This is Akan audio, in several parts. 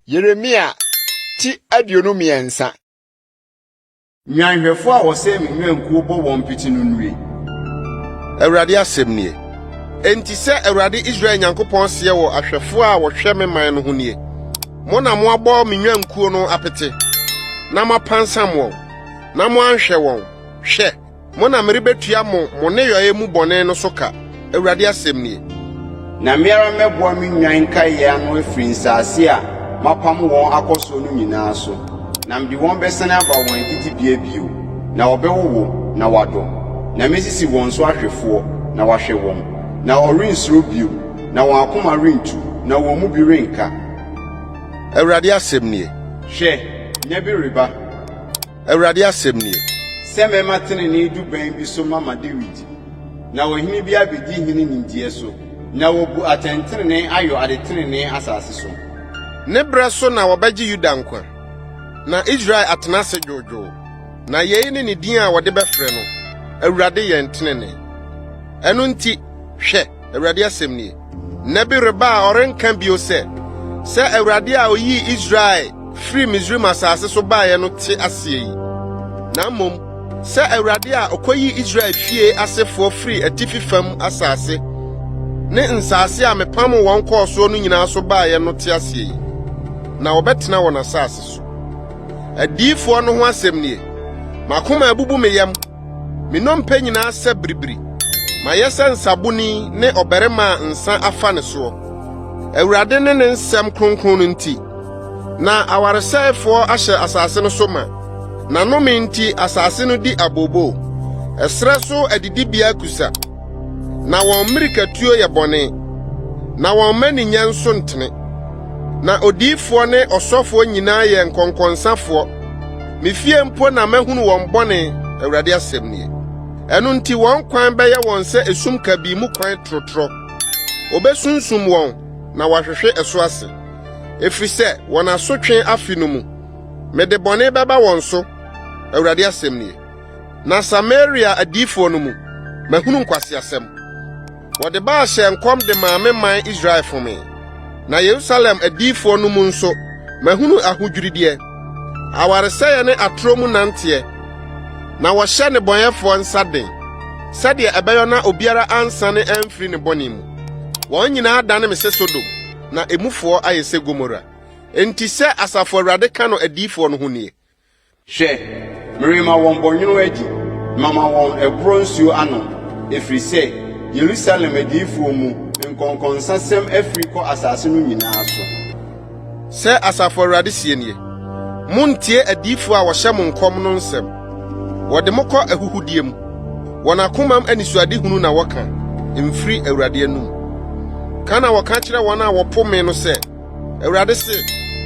Yeremia ti aduonu mmiɛnsa. Nnwanhwɛfo a wɔsɛe me nnwankuo bɔ wɔn pete no nnue. Awurade asɛm nie. Enti sɛ Awurade Israel Nyankopɔn seɛ wɔ ahwɛfo a wɔhwɛ me man no ho nie, Mo na moabɔ me nnwankuo no apete na moapansam wɔn, na moanhwɛ wɔn. Hwɛ! Mo na merebetua mo mo nneyɔe mu bɔne no so ka, Awurade asɛm nie. Na me ara mɛboa me nnwan nkaeɛ ano afiri nsase a mapamo wɔn akɔ soɔ no nyinaa so, na mede wɔn bɛsane aba wɔn adidibea bio, na wɔbɛwowo, na wɔadɔ, na mɛsisi wɔn so ahwɛfoɔ, na wɔahwɛ wɔn, na wɔrensuro bio, na wɔn akoma rentu, na wɔn mu bi renka. Awurade asɛm nie. Hwɛ, nna bi reba. Awurade asɛm nie. Sɛ mɛma tenenee du bɛn bi so mama Dawid, na ɔhene bi abɛdi hene nimdeɛ so, na wabu atɛntenenee ayɔ ade tenenee asase so. Ne berɛ so na wɔbɛgye Yuda nkwa, na Israel atena ase dwoodwoo. Na yei ne ne din a wɔde bɛfrɛ no, Awurade Yɛn Tenenee. Ɛno nti, hwɛ! Awurade asɛm nie. Nna bi reba a ɔrenka bio sɛ, sɛ Awurade a oyii Israel firii Misraim asase so baeɛ no te aseɛ yi, na mmom sɛ Awurade a ɔkɔyii Israel fie asefoɔ firii atifi fam asase ne nsase a mepam wɔn kɔɔ soɔ no nyinaa so baeɛ no te aseɛ yi, na wɔbɛtena wɔn asase so. Adiyifoɔ no ho asɛm nie. M'akoma abubu me yam. Me nnompe nyinaa sɛ biribiri, mayɛ sɛ nsaboni ne ɔbarima a nsa afa ne soɔ. Awurade ne ne nsɛm kronkron no nti, na awaresɛefoɔ ahyɛ asase no so ma. N'anome nti asase no di abooboo, ɛserɛ so adidibea kusa, na wɔn mmirikatuo yɛ bɔne, na wɔn mmaninyɛ nso ntene. Na odiyifoɔ ne ɔsɔfoɔ nyinaa yɛ nkɔnkɔnsafoɔ. Me fie mpo na mahunu wɔn bɔne, Awurade asɛm nie. Ɛno nti wɔn kwan bɛyɛ wɔn sɛ esum kabii mu kwan torotorɔ. Wɔbɛsunsum wɔn na wɔahwehwe ɛso ase, ɛfiri sɛ wɔn asotwe afe no mu. Mede bɔne bɛba wɔn so, Awurade asɛm nie. Na Samaria adiyifoɔ no mu, mahunu nkwaseasɛm. Wɔde Baal hyɛɛ nkɔm de maa me man Israel fomee, na Yerusalem adiyifo no mu nso mahunu ahodwirideɛ, awaresɛeɛ ne atorɔ mu nanteɛ, na wɔhyɛ nnebɔneyɛfoɔ nsa den, sɛdeɛ ɛbɛyɔ na obiara ansane amfiri ne bɔne mu. Wɔn nyinaa adane me sɛ Sodom, na emufoɔ ayɛ sɛ Gomora. Enti sɛ Asafo Awurade ka no adiyifoɔ no ho nie, Hwɛ, merema wɔn bɔnwoma adi, mama wɔn ɛborɔ nsuo anom, ɛfiri sɛ Yerusalem adiyifoɔ mu nkɔnkɔnsasɛm afiri kɔ asase no nyinaa so. Sɛ Asafo Awurade seɛ nie, Monntie adiyifoɔ a wɔhyɛ mo nkɔm no nsɛm. Wɔde mo kɔ ahuhudeɛ mu. Wɔn akomam anisoadehunu na wɔka, ɛmfiri Awurade anom. Ka na wɔka kyerɛ wɔn a wɔpo me no sɛ. Awurade se,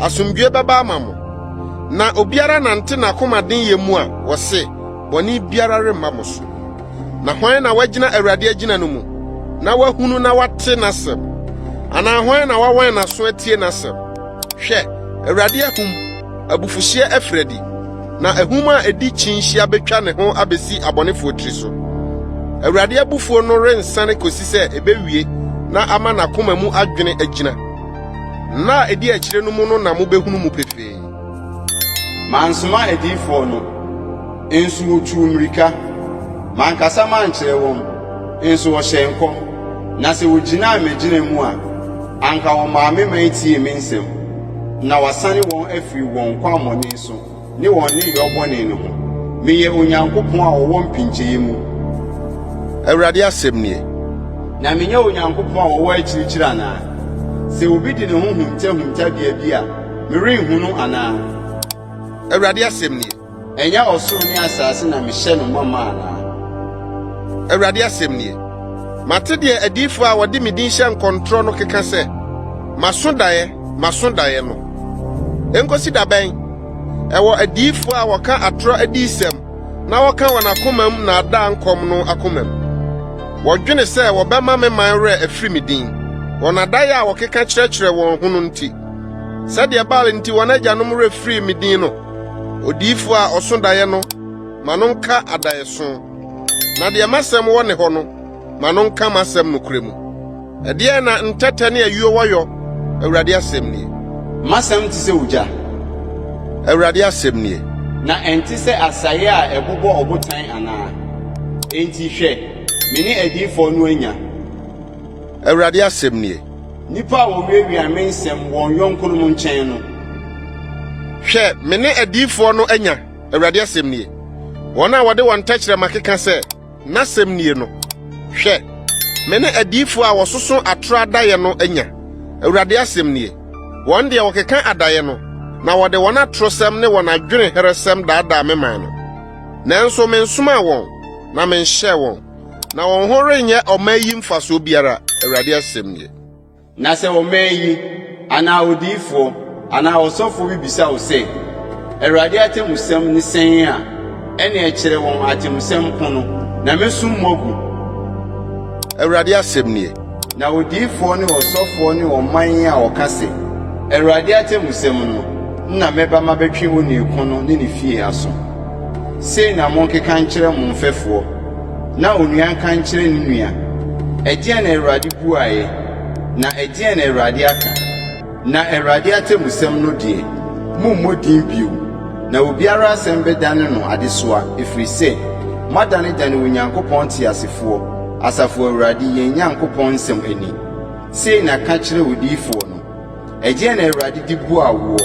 Asomdwoe bɛba ama mo. Na obiara nante n'akomaden yɛ mu a wɔse bɔne biara remma mo so. Na hwan na wagyina Awurade agyina no mu na wahunu na wate n'asɛm? Anaa hwan na wawɛn n'aso atie n'asɛm? Hwɛ, Awurade ahum abufuhyeɛ afiri adi, na ahum a ɛdi kyinhyia bɛtwa ne ho abɛsi abɔnefoɔ tiri so. Awurade abufuo no rensane kɔsi sɛ ɛbɛwie na ama n'akoma mu adwene agyina. Nna a ɛdi akyire no mu no na mobɛhunu mu pefee. Mansoma adiyifoɔ no. Nso wotuu mmirika. Mankasa mankyerɛ wɔn, nso wɔhyɛɛ nkɔm, na sɛ wogyinaa m'agyina mu a, anka wɔmaa me man tiee me nsɛm, na wɔasane wɔn afiri wɔn kwammɔne so ne wɔn nneyɔɔ bɔne no ho. Meyɛ Onyankopɔn a ɔwɔ mpinkyee mu. Awurade asɛm nie. Na menyɛ Onyankopɔn a ɔwɔ akyirikyiri anaa? Sɛ obi de ne ho hunta huntabea bi a, merenhunu anaa? Awurade asɛm nie. Ɛnyɛ ɔsoro ne asase na mehyɛ no ma ma anaa? Awurade asɛm nie. Mate deɛ adiyifoɔ a wɔde me din hyɛ nkɔntorɔ no keka sɛ, 'Maso daeɛ, maso daeɛ' no. Ɛnkɔsi da bɛn? Ɛwɔ adiyifoɔ a wɔka atorɔ adiyisɛm na wɔka wɔn akomam nnaadaa nkɔm no akomam. Wɔdwene sɛ wɔbɛma me man werɛ afiri me din, wɔn adaeɛ a wɔkeka kyerɛkyerɛ wɔn ho no nti. Sɛdeɛ Baal nti wɔn agyanom werɛ firii me din no, Odiyifo a ɔso daeɛ no, ma no nka adaeɛso, na deɛ m'asɛm wɔ ne hɔ no, ma no nka m'asɛm nokorɛ mu. Ɛdeɛn na ntɛtɛ ne ayuo wɔ yɔ? Awurade asɛm nie. M'asɛm te sɛ ogya. Awurade asɛm nie. Na ɛnte sɛ asaeɛ a ɛbobɔ ɔbotan anaa? Enti hwɛ, me ne adiyifoɔ no anya. Awurade asɛm nie. Nnipa a wɔwiawia me nsɛm wɔn yɔnkonom nkyɛn no. Hwɛ, me ne adiyifoɔ no anya, Awurade asɛm nie, wɔn a wɔde wɔn tɛkyerɛma keka sɛ, N'asɛm nie no. Hwɛ, me ne adiyifoɔ a wɔsoso atorɔ adaeɛ no anya, Awurade asɛm nie, wɔn deɛ wɔkeka adaeɛ no, na wɔde wɔn atorɔsɛm ne wɔn adwenemherɛsɛm daadaa me man no. Nanso mensomaa wɔn, na menhyɛɛ wɔn. Na wɔn ho renyɛ ɔman yi mfasoɔ biara, Awurade asɛm nie. Na sɛ ɔman yi, anaa odiyifoɔ, anaa ɔsɔfoɔ bi bisa wo sɛ, 'Awurade atemmusɛm ne sɛn? a, ɛnneɛ kyerɛ wɔn atemmusɛm ko no, na mɛsum mo agu. Awurade asɛm nie. Na odiyifoɔ ne ɔsɔfoɔ ne ɔman a wɔka se, Awurade atemmusɛm no na mɛba mabɛtwe onii ko no ne ne fie aso. Sei na monkeka nkyerɛ mo mfɛfoɔ, na onua nka nkyerɛ ne nua, Ɛdeɛn na Awurade buaeɛ? Na ɛdeɛn na Awurade aka? Na Awurade atemmusɛm no deɛ, mommɔ din bio, na obiara asɛm bɛdane no adesoa, ɛfiri sɛ moadanedane Onyankopɔn teasefoɔ, Asafo Awurade, yɛn Nyankopɔn nsɛm ani. Sei na ka kyerɛ odiyifoɔ no, Ɛdeɛn na Awurade de bua woɔ,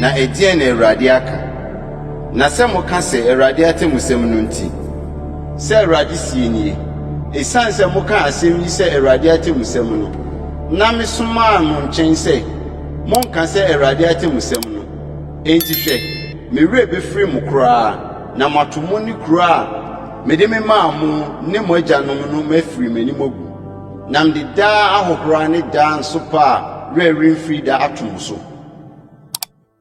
na ɛdeɛn na Awurade aka? Na sɛ moka sɛ, Awurade atemmusɛm no nti, sɛ Awurade seɛ nie, ɛsiane sɛ mokaa asɛm yi sɛ Awurade atemmusɛm no, Na mesomaa mo nkyɛn sɛ monka sɛ Awurade atemmusɛm no. Enti hwɛ, me werɛ bɛfiri mo koraa, na moato mo ne kuro a mede me maa mo ne mo agyanom no mafiri m'anim agu, na mede daa ahohora ne daa nsopa a werɛ remfiri da ato mo so.